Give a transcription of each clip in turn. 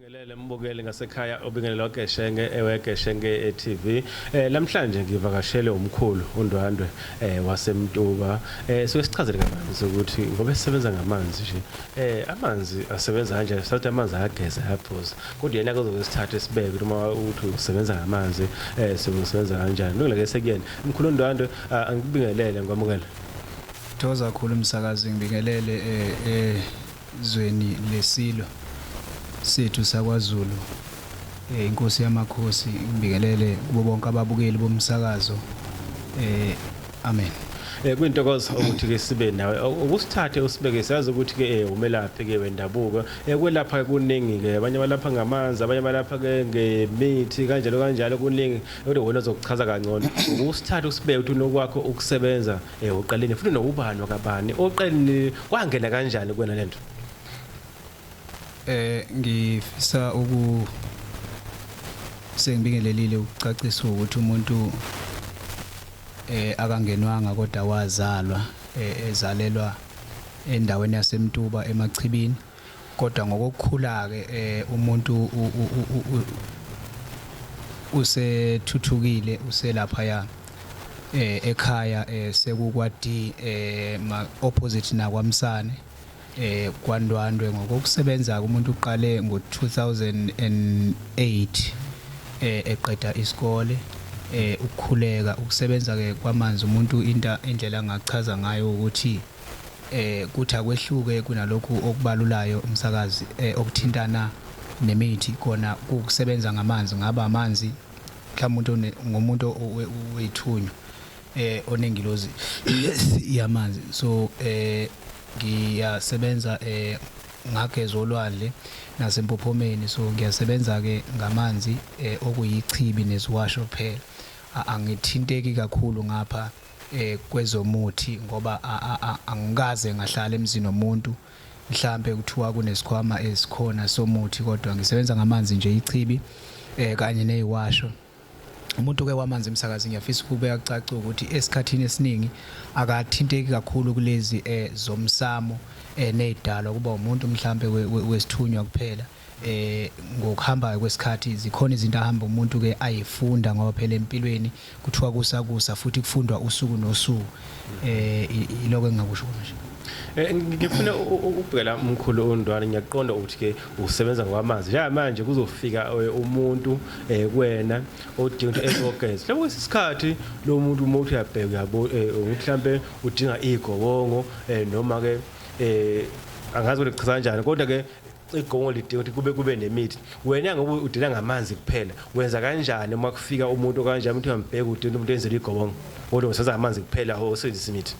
Ngelele mbukeli ngasekhaya obingelelwa Geshenge ewe Geshenge eh, TV eh namhlanje ngivakashele umkhulu uNdwandwe eh waseMtuba eh suke sichazele kabanzi ukuthi ngoba esebenza ngamanzi nje eh amanzi asebenza kanje sathi amanzi ayageza ayaphuza kodwa yena kuzobe sithathe sibeke uma uthi usebenza ngamanzi eh sebenza kanjani nokuleke sekuyena umkhulu uNdwandwe ah, angikubingelele ngwamukela Thokoza kakhulu umsakazi ngibingelele eh eh Zweni leSilo sethu sakwaZulu, iNkosi yamakhosi ikubingelele kubo bonke ababukeli bomsakazo. Amen. Kuyintokozo ukuthi-ke sibe nawe. Ukusithathe usibeke siyazi ukuthi-ke umelaphi-ke wendabuko. Ukwelapha-ke kuningi-ke. Abanye balapha ngamanzi, abanye balapha-ke ngemithi kanjalo kanjalo kuningi. Kodwa wena uzokuchaza kangcono. Ukusithathe usibeke ukuthi unokwakho ukusebenza Eh uqaleni futhi nowubani wakabani? Oqaleni kwangena kanjani kuwena lento? Eh ngifisa uku sengibingelelile ukucacisa ukuthi umuntu eh akangenwanga kodwa wazalwa eh, ezalelwa endaweni yaseMtuba eMachibini kodwa ngokokukhula-ke um umuntu usethuthukile uselaphaya eh ekhaya eh sekukwa D eh ma opposite nakwamsane eh kwandwandwe ngokusebenza kumuntu uqale ngo2008 eh eqeda isikole eh ukukhuleka ukusebenza ke kwamanzi umuntu into indlela ngachaza ngayo ukuthi eh kuthi akwehluke kunalokhu okubalulayo umsakazi eh, okuthintana nemithi kona kukusebenza ngamanzi ngaba amanzi mhlawumbe ngomuntu wethunywa eh onengilozi yamanzi so eh ngiyasebenza eh ngageza olwandle nasempophomeni so ngiyasebenza ke ngamanzi eh, okuyichibi neziwasho phela angithinteki kakhulu ngapha eh kwezomuthi ngoba angikaze ngahlala emzini womuntu mhlambe kuthiwa kunesikhwama esikhona somuthi kodwa ngisebenza ngamanzi nje ichibi eh kanye neyiwasho umuntu ke wamanzi emsakazi ngiyafisa ukubeka kucaca ukuthi esikhathini esiningi akathinteki kakhulu kulezi eh zomsamo eh nezidalwa kuba umuntu mhlambe wesithunywa kuphela eh ngokuhamba kwesikhathi zikhona izinto ahamba umuntu ke ayifunda ngoba phela empilweni kuthiwa kusakusa futhi kufundwa usuku nosuku eh iloko engingakusho nje eh, ngifuna ukubhekela umkhulu ondwana ngiyaqonda ukuthi ke usebenza ngwamanzi njenga manje kuzofika eh, umuntu eh, kuwena odinga ukuthi ezogeza lapho kwesikhathi lo muntu uma uthi uyabheka uyabo mhlambe udinga igobongo noma ke eh angazi ukuthi kuchaza kanjani kodwa ke igongo lidinga ukuthi kube kube nemithi wena ngoba udila ngamanzi kuphela wenza kanjani uma kufika umuntu okanjani umuntu uyambheka udinga umuntu enzela igobongo kodwa usebenza ngamanzi kuphela osebenzisa imithi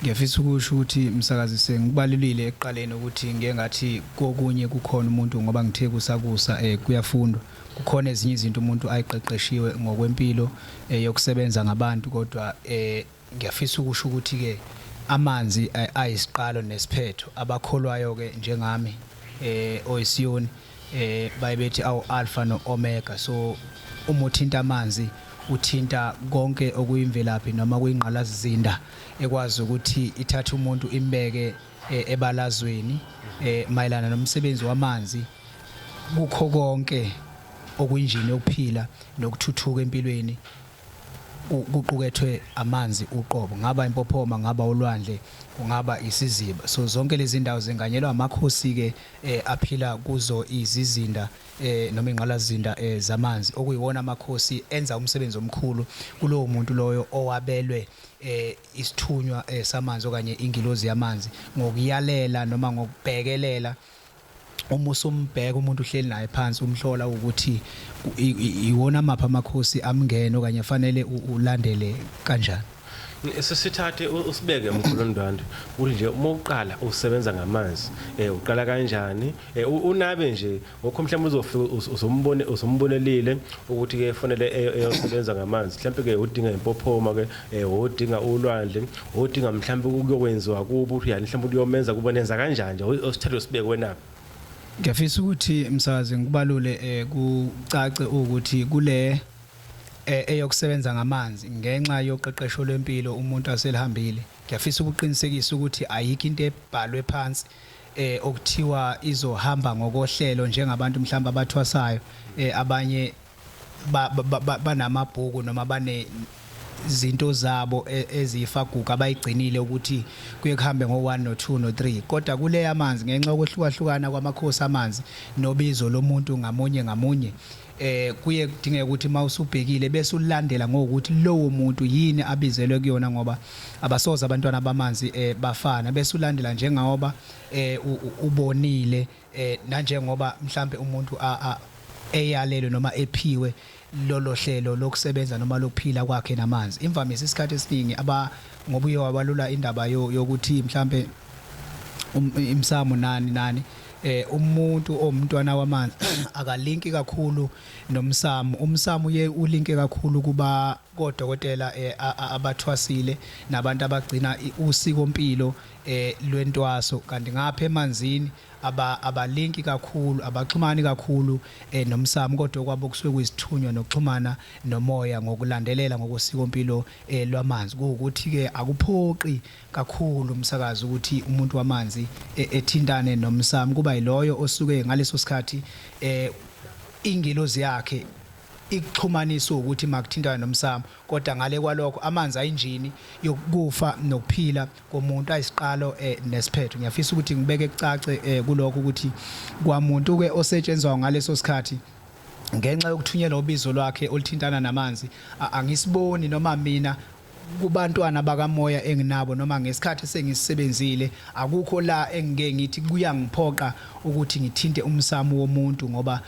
ngiyafisa ukusho ukuthi msakazi sengikubalulile ekuqaleni ukuthi ngeke ngathi kokunye kukhona umuntu ngoba ngithe kusakusa um kuyafundwa kukhona ezinye izinto umuntu ayiqeqeshiwe ngokwempilo um yokusebenza ngabantu kodwa um Ngiyafisa ukusho ukuthi-ke amanzi ayisiqalo nesiphetho. Abakholwayo-ke njengami eh, oyiSiyoni eh, baye bethi awu-Alfa no-Omega. So uma uthinta amanzi uthinta konke okuyimvelaphi noma kuyingqalazizinda ekwazi ukuthi ithathe umuntu imbeke eh, ebalazweni eh, mayelana nomsebenzi wamanzi kukho konke okunjini yokuphila nokuthuthuka empilweni kuqukethwe amanzi uqobo ngaba impophoma ngaba ulwandle kungaba isiziba so zonke lezi ndawo zinganyelwa amakhosi-ke eh, aphila kuzo izizinda eh, noma ingqalazinda eh, zamanzi okuyiwona amakhosi enza umsebenzi omkhulu kulowo muntu loyo owabelwe eh isithunywa eh, samanzi okanye ingilozi yamanzi ngokuyalela noma ngokubhekelela uma usumbheka umuntu uhleli naye phansi umhlola ukuthi iwona amaphi amakhosi amngene okanye afanele ulandele kanjani sisithathe usibeke mkhulu ndwandwe kunje uma uqala usebenza ngamanzi eh uqala kanjani eh, unabe nje ngokho mhlawumbe uzofika uzombone uzombonelile ukuthi ke kufanele eyosebenza ngamanzi mhlawumbe ke udinga impophoma ke eh odinga ulwandle odinga mhlawumbe ukuyokwenziwa kubo uthi yani mhlawumbe uyomenza kubo nenza kanjani nje osithathe sibekwe na Ngiyafisa ukuthi msazi ngibalule eh, kucace ukuthi kule eh, eyokusebenza ngamanzi ngenxa yoqeqesho lwempilo umuntu aselihambile ngiyafisa ukuqinisekisa ukuthi ayikho into ebhalwe phansi eh okuthiwa izohamba ngokohlelo njengabantu mhlawumbe abathwasayo eh abanye banamabhuku ba, ba, ba noma bane zinto zabo e, eziyifaguga abayigcinile ukuthi kuye kuhambe ngo-1 no-2 no-3 kodwa kule yamanzi ngenxa yokwehlukahlukana kwamakhosi amanzi nobizo lomuntu ngamunye ngamunye eh kuye kudingeka ukuthi mawusubhekile bese ulandela ngokuthi lowo muntu yini abizelwe kuyona ngoba abasoza abantwana bamanzi eh bafana bese ulandela njengoba eh ubonile eh nanjengoba mhlambe umuntu a a eyalelwe noma ephiwe lolo hlelo lokusebenza noma lokuphila kwakhe namanzi imvamisa isikhathi esiningi aba ngoba uye wabalula indaba yo- yokuthi mhlambe um- imsamo nani nani eh umuntu omntwana wamanzi akalinki kakhulu nomsamo umsamo uye ulinke kakhulu kuba kodokotela eh, a- a- abathwasile nabantu abagcina i- usiko mpilo eh lwentwaso kanti ngapha emanzini aba abalinki kakhulu abaxhumani kakhulu eh nomsamo kodwa kwabo kusuke kuyisithunywa nokuxhumana nomoya ngokulandelela ngokosikompilo eh lwamanzi ukuthi ke akuphoqi kakhulu umsakazi ukuthi umuntu wamanzi eh, ethintane nomsamo kuba yiloyo osuke ngaleso sikhathi eh ingelozi yakhe ikuxhumanisa ukuthi makuthintana nomsamo kodwa ngale kwalokho amanzi ayinjini yokufa nokuphila komuntu ayisiqalo eh, nesiphetho ngiyafisa ukuthi ngibeke kucace eh, kulokho ukuthi kwamuntu ke osetshenzwa ngaleso sikhathi ngenxa yokuthunyelwa ubizo lwakhe oluthintana namanzi angisiboni noma mina kubantwana bakamoya enginabo noma ngesikhathi sengisebenzile akukho la engike ngithi kuyangiphoqa ukuthi ngithinte umsamo womuntu ngoba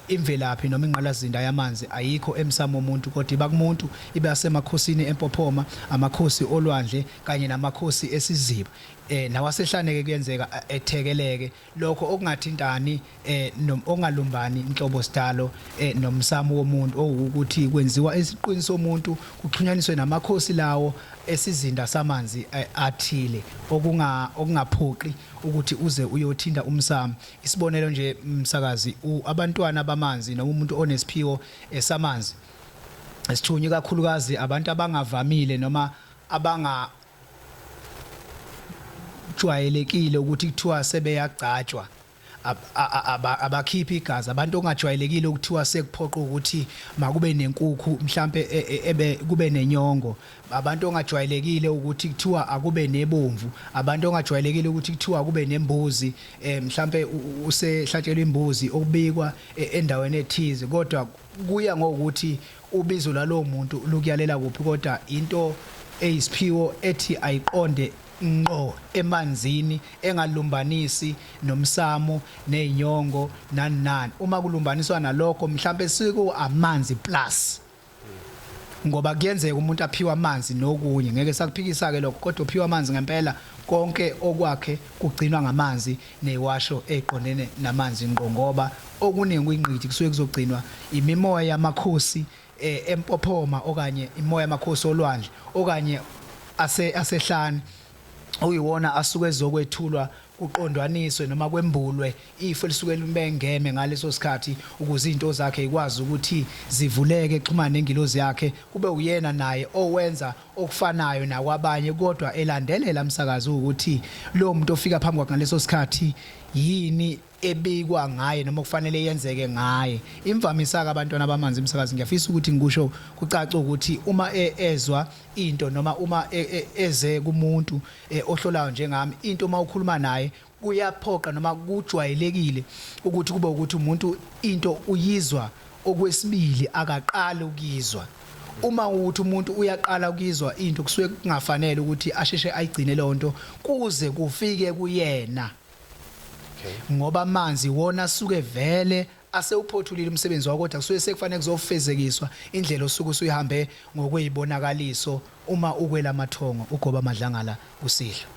Imvelaphi noma ingqalazinda yamanzi ayikho emsamo womuntu kodwa iba kumuntu, ibe asemakhosini empophoma, amakhosi olwandle kanye namakhosi esiziba. Nawasehlane-ke kuyenzeka ethekeleke, lokho okungathintani noma okungalumbani nhlobo sidalo nomsamo womuntu owukuthi kwenziwa esiqwini somuntu kuxhunyaniswe namakhosi lawo esizinda samanzi athile okungaphoqi ukuthi uze uyothinta umsamo. Isibonelo nje msakazi abantwana bamanzi noma umuntu onesiphiwo esamanzi esithunywe kakhulukazi abantu abangavamile noma abanga jwayelekile ukuthi kuthiwa sebeyagcatshwa abakhiphi igazi abantu ongajwayelekile ukuthiwa sekuphoqa ukuthi makube nenkukhu mhlambe e, e, ebe kube nenyongo abantu ongajwayelekile ukuthi kuthiwa akube nebomvu abantu ongajwayelekile ukuthi kuthiwa kube nembuzi eh mhlambe usehlatshelwa imbuzi okubikwa e, endaweni ethize kodwa kuya ngokuthi ubizo lalowo muntu lukuyalela kuphi kodwa into eyisiphiwo ethi ayiqonde ngqo emanzini engalumbanisi nomsamo nezinyongo nani nani uma kulumbaniswa nalokho mhlambe siku amanzi plus ngoba kuyenzeka umuntu aphiwa amanzi nokunye ngeke sakuphikisa ke lokho kodwa uphiwa amanzi ngempela konke okwakhe kugcinwa ngamanzi neyiwasho eqondene namanzi ngqo ngoba okuningi kuyingqithi kusuke kuzogcinwa imimoya yamakhosi eh, empophoma okanye imoya yamakhosi olwandle okanye ase asehlane uyiwona asuke ezokwethulwa kuqondwaniswe noma kwembulwe ifu elisuke limbengeme ngaleso sikhathi ukuze izinto zakhe ikwazi ukuthi zivuleke exhumana nengilozi yakhe kube uyena naye owenza okufanayo nakwabanye kodwa elandelela umsakazi ukuthi lo muntu ofika phambi kwakhe ngaleso sikhathi yini ebikwa ngaye noma kufanele yenzeke ngaye imvamisa-ke abantwana bamanzi umsakazi ngiyafisa ukuthi ngikusho kucace ukuthi uma e, ezwa into noma uma e, e, eze kumuntu eh, ohlolayo njengami into uma ukhuluma naye kuyaphoqa noma kujwayelekile ukuthi kube ukuthi umuntu into uyizwa okwesibili akaqali ukuyizwa uma ukuthi umuntu uyaqala ukuyizwa into kusuke kungafanele ukuthi asheshe ayigcine leyo nto kuze kufike kuyena Okay. Ngoba amanzi wona suke vele asewuphothulile umsebenzi wakho kodwa kusuke sekufanele kuzofezekiswa indlela osuke usuyihambe ngokwezibonakaliso uma ukwela mathongo ugoba amadlangala usidlo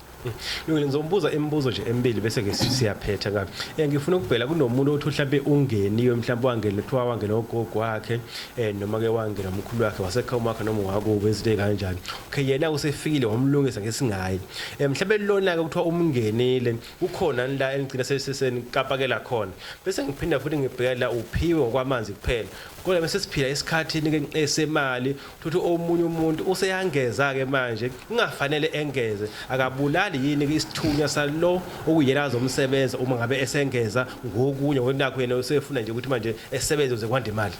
Lungile ngizombuza imibuzo nje emibili bese ke siyaphetha kabi. Eh ngifuna ukubhela kunomuntu othi mhlambe ungeniwe mhlambe wangena kuthiwa wangena ugogo wakhe eh noma ke wangena umkhulu wakhe wasekhaya umakhe noma wakubo izinto ezikanjani. okay yena usefikile wamlungisa ngesingayi eh, mhlawumbe lona ke kuthiwa umngenile kukhona la engigcina sesesenikapakela khona bese ngiphinda futhi ngibhekela uphiwe ngokwamanzi kuphela kodwa bese siphila esikhathini ke esemali futhi omunye umuntu useyangeza ke manje kungafanele engeze akabulali yini ke isithunywa salo okuyena azomsebenza uma ngabe esengeza ngokunye ngokunakho yena usefuna nje ukuthi manje esebenze uze kwande imali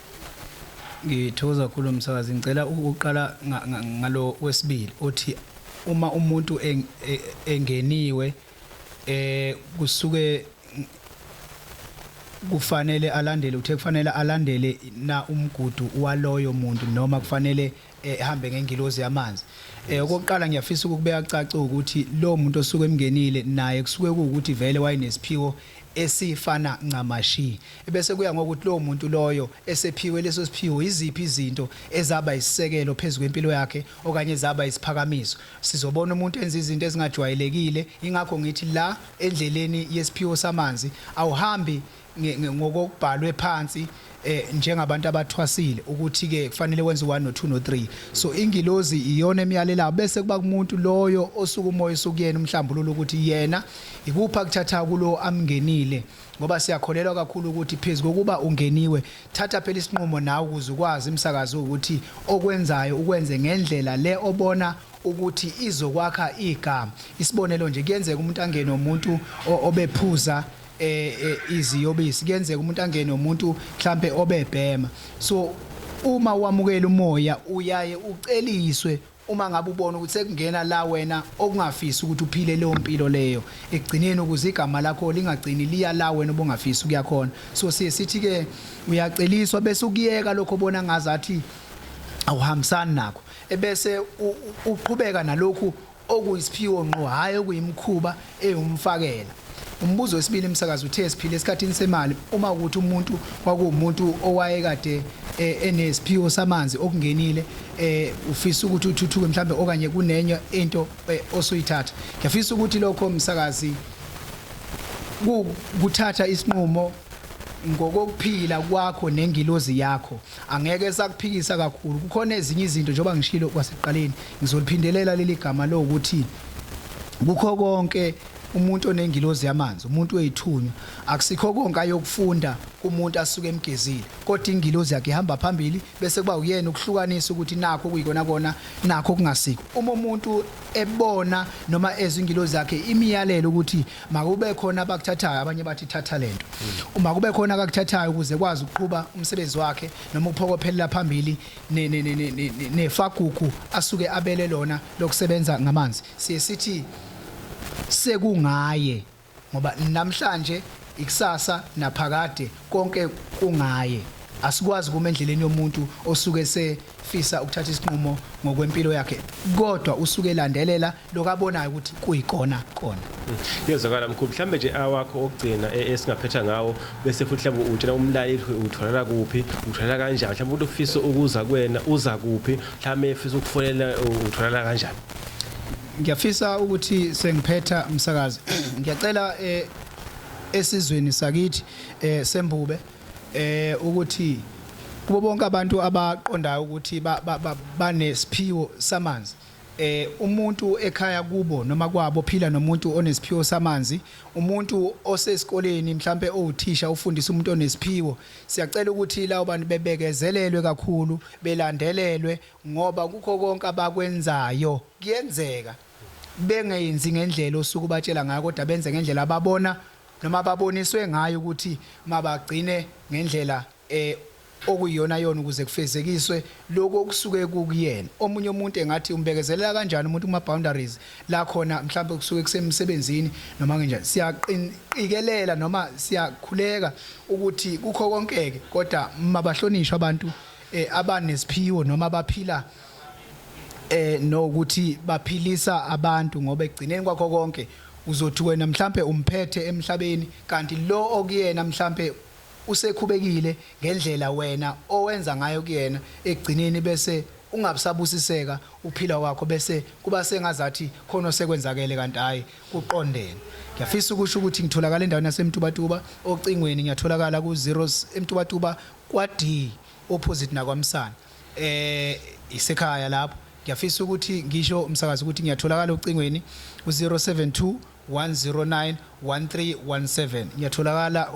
Ngithokoza kakhulu msakazi ngicela ukuqala ngalo wesibili othi uma umuntu e, engeniwe eh kusuke kufanele alandele uthe kufanele alandele na umgudu waloyo muntu noma kufanele ehambe ngengilozi yamanzi eh okokuqala ngiyafisa ukubeka kucace ukuthi lo muntu osuke emngenile naye kusuke ukuthi vele wayenesiphiwo esifana ncamashi ebese kuya ngokuthi lo muntu loyo esephiwe leso siphiwo iziphi izinto ezaba isisekelo phezulu kwempilo yakhe okanye zaba isiphakamiso sizobona umuntu enza izinto ezingajwayelekile ingakho ngithi la endleleni yesiphiwo samanzi awuhambi ngokokubhalwe phansi eh njengabantu abathwasile ukuthi ke kufanele wenze u1 no 2 no 3 so ingilozi iyona emyalelayo bese kuba kumuntu loyo osuka umoya usukuyena umhlambululo ukuthi yena ikupha kuthatha kulo amngenile ngoba siyakholelwa kakhulu ukuthi phezulu kokuba ungeniwe thatha phela isinqumo nawe ukuze ukwazi imsakazo ukuthi okwenzayo ukwenze ngendlela le obona ukuthi izokwakha igama isibonelo nje kuyenzeka umuntu angene umuntu obephuza eh, eh iziyobisi kuyenzeka umuntu angene umuntu mhlambe obebhema so uma wamukela umoya uyaye uceliswe uma ngabe ubona ukuthi sekungena la wena okungafisi ukuthi uphile leyo mpilo leyo ekugcineni ukuze igama lakho lingagcini liya la wena obungafisi ukuya khona so siye sithi ke uyaceliswa bese ukuyeka lokho bona ngazathi awuhambisani nakho ebese uqhubeka nalokhu okuyisiphiwo ngqo hhayi okuyimikhuba ewumfakela. Umbuzo wesibili msakazi uthe siphile esikhathini semali uma ukuthi umuntu kwakuwumuntu owayekade e, enesiphiwo samanzi okungenile eh ufisa ukuthi uthuthuke mhlambe okanye kunenye into e, osuyithatha ngiyafisa ukuthi lokho msakazi kuthatha isinqumo ngokokuphila kwakho nengilozi yakho Angeke sakuphikisa kakhulu. Kukhona ezinye izinto njengoba ngishilo kwasekuqaleni ngizoliphindelela leli gama lokuthi kukho konke umuntu onengilozi yamanzi umuntu weyithunywa akusikho konke ayokufunda kumuntu asuke emgezile kodwa ingilozi yakhe ihamba phambili bese kuba uyena ukuhlukanisa ukuthi nakho kuyikona kona nakho kungasikho uma umuntu ebona noma ezwe ingilozi yakhe imiyalelo ukuthi Makube khona abakuthathayo abanye bathi thatha lento. Uma kube khona akakuthathayo ukuze kwazi ukuqhuba umsebenzi wakhe noma ukuphokophelela phambili ne- ne- ne- ne- ne- nefagugu asuke abele lona lokusebenza ngamanzi. Siye sithi sekungaye ngoba namhlanje ikusasa naphakade konke kungaye. Asikwazi kuma endleleni yomuntu osuke sefisa ukuthatha isinqumo ngokwempilo yakhe kodwa usuke elandelela lokabonayo ukuthi kuyikona kona yezwakala mkhulu mhlambe nje awakho okugcina e- esingaphetha ngawo bese futhi mhlawumbe utshela umlaleli utholakala kuphi utholakala kanjani mhlawumbe umuntu ufisa ukuza kuwena uza kuphi mhlawumbe efisa ukufonela u- utholakala kanjani ngiyafisa ukuthi sengiphetha umsakazi ngiyacela eh, esizweni sakithi eh, sembube eh, ukuthi kubo bonke abantu abaqondayo ukuthi ba- ba- ba- banesiphiwo samanzi eh umuntu ekhaya kubo noma kwabo phila nomuntu onesiphiwo samanzi umuntu osesikoleni mhlambe owuthisha ufundisa umuntu onesiphiwo siyacela ukuthi lawo bantu bebekezelelwe kakhulu belandelelwe ngoba kukho konke abakwenzayo kuyenzeka bengenzi ngendlela osuku batshela ngayo kodwa benze ngendlela ababona noma baboniswe ngayo ukuthi mabagcine ngendlela e okuyiyonayona ukuze kufezekiswe lokhu okusuke kukuyena omunye umuntu engathi umbekezelela kanjani umuntu kuma boundaries la khona mhlawumbe kusuke kusemsebenzini noma kanjani siyaqinikelela noma siyakhuleka ukuthi kukho konkeke kodwa mabahlonishwa abantu eh, abanesiphiwo noma baphila eh nokuthi baphilisa abantu ngoba egcineni kwakho konke uzothi wena mhlambe umphethe emhlabeni kanti lo okuyena mhlambe Usekhubekile ngendlela wena owenza ngayo kuyena ekugcineni bese ungabsabusiseka ukuphila kwakho bese kuba sengazathi khona osekwenzakele kanti hhayi kuqondene. Ngiyafisa ukusho ukuthi ngitholakala endaweni yaseMtubatuba ocingweni ngiyatholakala ku zeros eMtubatuba kwa-D opposite nakwaMsana. Eh isekhaya lapho. Ngiyafisa ukuthi ngisho msakazi ukuthi ngiyatholakala ocingweni u-072 1317 ngiyatholakala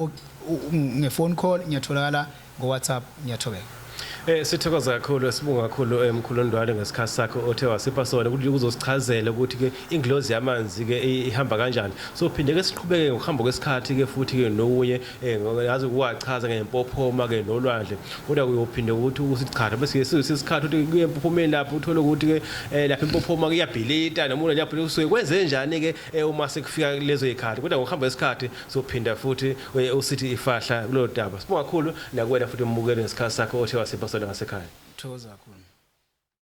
ngefone call ngiyatholakala ngowhatsapp ngiyathobeka Eh sithokoza kakhulu esibunga kakhulu eh, mkhulu Ndwale ngesikhathi sakhe othe wasipha sona ukuthi kuzosichazela ukuthi ke ingilozi yamanzi ke ihamba kanjani so phinde ke siqhubeke ngokuhamba kwesikhathi ke futhi ke nokunye Eh ngoba yazi ukuwachaza ngempophoma ke nolwandle kodwa kuyophinde ukuthi usichara bese yesikhathi ukuthi kuye empophomeni lapho uthole ukuthi ke eh, lapha impophoma kuyabhilita noma umuntu lapho usuke kwenze njani ke eh, uma sekufika lezo ikhathi kodwa ngokuhamba isikhathi sophinda futhi eh, usithi ifahla kulo daba sibonga kakhulu nakuwena futhi umbukele ngesikhathi sakho othe wasipha sona ngasekhaya thokoza kakhulu